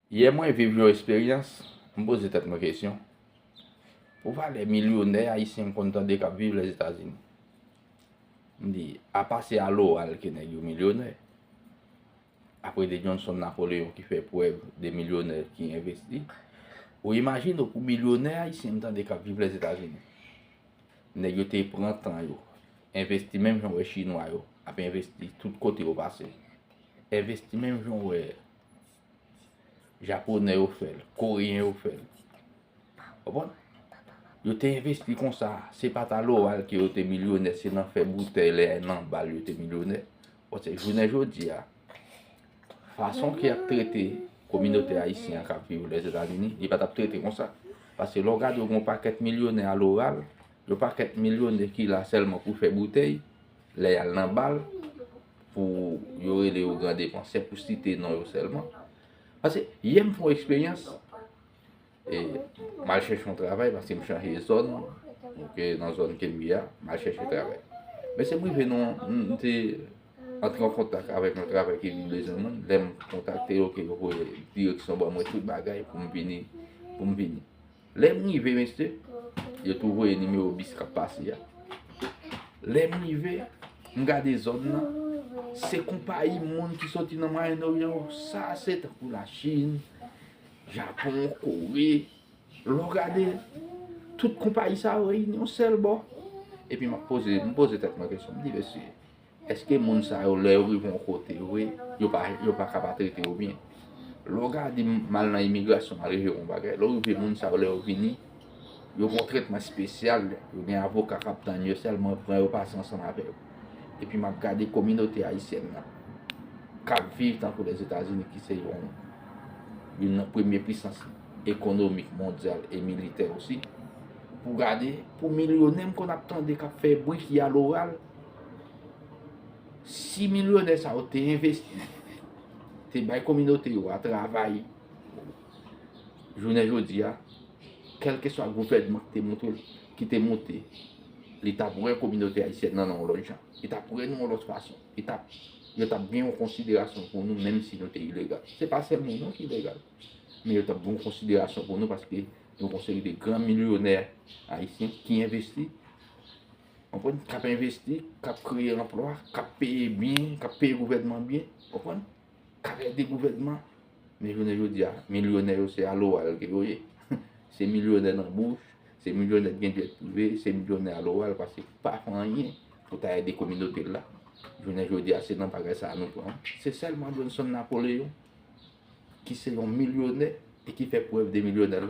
Yè mwen viv yon esperyans, m poze tèt mwen kesyon, pou valè milyonè ayisyen m konn tande k ap viv Lèzetazini. M di, apa se a loral ke nèg yo milyonè, apre de Johnson Napoleon ki fè prèv de milyonè ki envesti, ou imajine w pou milyonè ayisyen m tande k ap viv Lèzetazini, nèg yo te pran tan yo, envesti menm jan w wè chinwa yo ap envesti tout kote yo pase, envesti menm jan w wè Japonè yo fè l, Koreyen yo fè l. Konprann? Yo te envesti kon sa. Se pa ta loral ke yo te milyonè, se nan fè boutèy lè a nan bal yo te milyonè. Bon, se jounen jodi a, fason ki ap trete kominote ayisyen an kap viv Lèzetazini, li pa tap trete kon sa. Pase lè w gade yon pakèt milyonè a loral, yon pakèt milyonè ki la sèlman pou fè boutèy, lè y al nan bal. pou yo rele yo gran depansè pou site non yo sèlman. Pase, yè m fè yon eksperyans, e m al chèche yon travay, pase m chanje zòn, ke nan zòn ke m ye a, m al chèche travay. Men se m rive nan, m te antre an kontak avèk yon travay ki vin bezwen moun, lè m kontakte yo ke yo voye direksyon ban mwen tout bagay pou m vini, pou m vini. Lè m rive mesye, yo tou voye nimewo bis k ap pase a. Lè m rive, m gade zòn nan, se konpayi moun ki soti nan Mwayen Oryan yo. Sa se tankou Lachin, Japon, Kore. Lè w gade, tout konpayi sa yo reyini yon sèl bò. Epi m ap poze, m poze tèt mwen kesyon, m di mesye. Eske moun sa yo lè yo rive yon kote vre yo pa yo pa ka pa trete yo byen. Lè w gade m al nan imigrasyon m al reveye yon bagay, lè w rive moun sa yo lè yo vini yo gen yon tretman espesyal, yo gen avoka k ap tann yo sèlman pran yo pase ansanm avè yo. Epi m ap gade kominote ayisyèn nan k ap viv tankou Lèzetazini ki se yon youn nan premye pisans ekonomik mondyal e militè osi pou w gade pou milyonè m konn ap tande k ap fè bri ki aloral. Si milyonè sa yo te envesti, te bay kominote yo a travay, jounen jodi a, kèlke swa gouvènman ki te monte, ki te monte, li t ap wè kominote ayisyèn nan yon lòt jan. Li t ap wè nou yon lòt fason. Li t ap, yo t ap gen yon konsiderasyon pou nou menm si nou te ilegal. Se pa sèl nou non ki ilegal. Men yo t ap gen yon konsiderasyon pou nou paske nou gon seri de gran milyonè ayisyen ki envesti Konprann? K ap envesti, k ap kreye anplwa, k ap peye byen, k ap peye gouvènman byen. Konprann? K ap ede gouvènman. Men jounen jodi a, milyonè yo se aloral ke yo ye. Se milyonè nan bouch, se milyonè ki gen djèt prive, se milyonè aloral pase ki pa fè anyen pou ta ede kominote l la. Jounen jodi a, se nan bagay sa a nou pran. Se sèlman Johnson Napoléon ki se yon milyonè e ki fè prèv de milyonè l.